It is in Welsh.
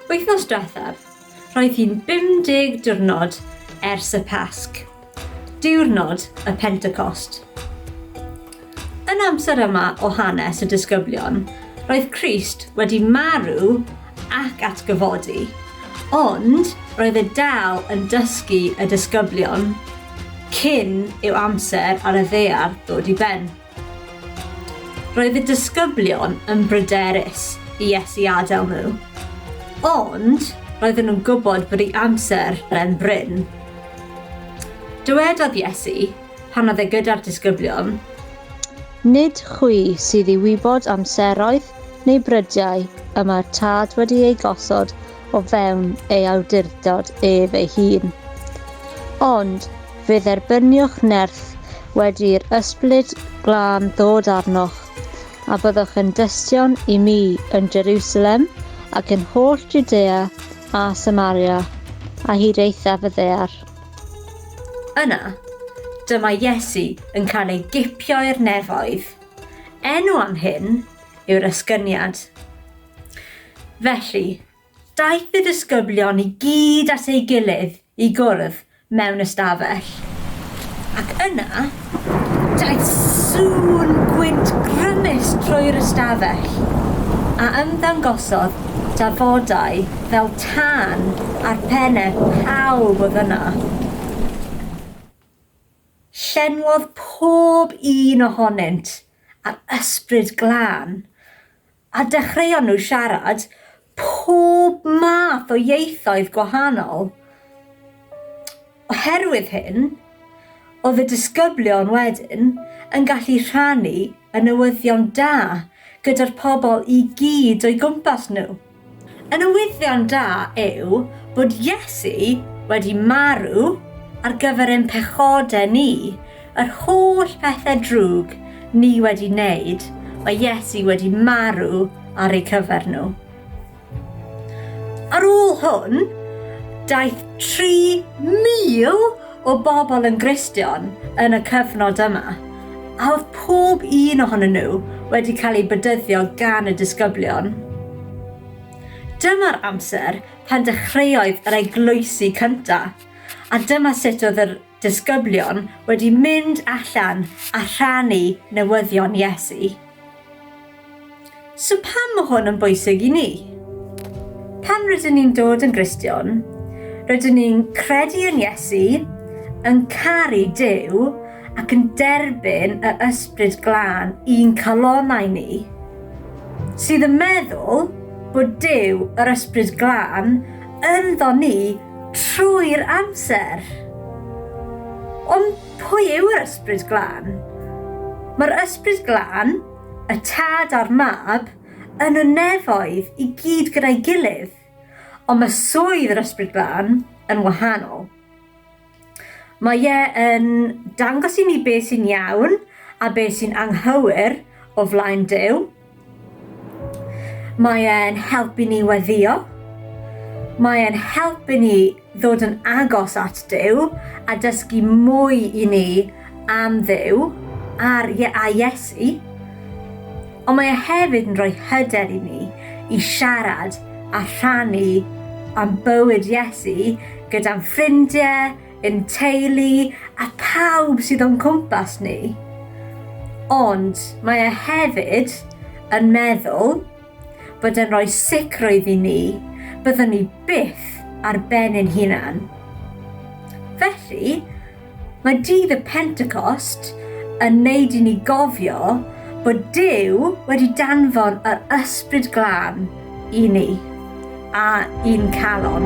Wythnos diwethaf, roedd hi'n 50 diwrnod ers y Pasg, diwrnod y Pentecost. Yn amser yma o hanes y disgyblion, roedd Christ wedi marw ac atgyfodi, ond roedd e dal yn dysgu y disgyblion cyn i'w amser ar y ddear ddod i ben. Roedd y disgyblion yn bryderus i Iesu adael nhw, ond roedden nhw'n gwybod bod ei amser yn brin. Dywedodd Iesu, pan oedd e gyda'r disgyblion, Nid chwi sydd i wybod amseroedd neu brydiau y mae'r Tad wedi eu gosod o fewn ei awdurdod ef ei hun. Ond fe dderbyniwch nerth wedi'r ysbryd glân ddod arnoch, a byddwch yn dystion i mi yn Jerusalem ac yn holl Judea a Samaria, a hyd eithaf y ddear. Yna, dyma Iesu yn cael ei gipio i'r nefoedd. Enw am hyn yw'r Esgyniad. Felly, daeth y disgyblion i gyd at ei gilydd i gwrdd mewn ystafell. Ac yna, daeth sŵn gwynt grymus trwy'r ystafell, a ymddangosodd dafodau fel tân ar pennau pawb oedd yna. Llenwodd pob un ohonynt â'r Ysbryd Glân, A dechreuon nhw siarad pob math o ieithoedd gwahanol. Oherwydd hyn, oedd y disgyblion wedyn yn gallu rhannu y newyddion da gyda'r pobl i gyd o'u gwmpas nhw. Y newyddion da yw bod Iesu wedi marw ar gyfer ein pechodau ni, yr holl bethau drwg ni wedi wneud, mae Iesu wedi marw ar eu cyfer nhw. Ar ôl hwn, daeth 3,000 o bobl yn Gristion yn y cyfnod yma, a oedd pob un ohonyn nhw wedi cael ei bedyddio gan y disgyblion. Dyma'r amser pan dechreuoedd yr eglwysi cynta, a dyma sut oedd yr disgyblion wedi mynd allan a rhannu newyddion Iesu. So pam mae hwn yn bwysig i ni? Pan rydyn ni'n dod yn Gristion, rydyn ni'n credu yn Iesu, yn caru Dyw ac yn derbyn y ysbryd glân i'n calonau ni, sydd yn meddwl bod Dyw yr ysbryd glân ynddo ni trwy'r amser. Ond Pwy yw'r Ysbryd Glân? Mae'r Ysbryd Glân, y Tad a'r Mab, yn y nefoedd i gyd gyda'i gilydd, ond mae swydd yr Ysbryd Glân yn wahanol. Mae e yn dangos i ni beth sy'n iawn a beth sy'n anghywir o flaen Duw, Mae e'n helpu ni weddio. Mae e'n helpu ni ddod yn agos at Duw a dysgu mwy i ni am Dduw a'r Ie- a Iesu. Ond mae e hefyd yn rhoi hyder i ni i siarad a rhannu am bywyd Iesu gyda'n ffrindie, Ein teulu a pawb sydd o'n cwmpas ni. Ond mae e hefyd yn meddwl bod e'n rhoi sicrwydd i ni byddwn ni byth ar ben ein hunan. Felly, mae dydd y Pentecost yn neud i ni gofio bod Duw wedi danfon yr Ysbryd Glân I ni. A i'n calon.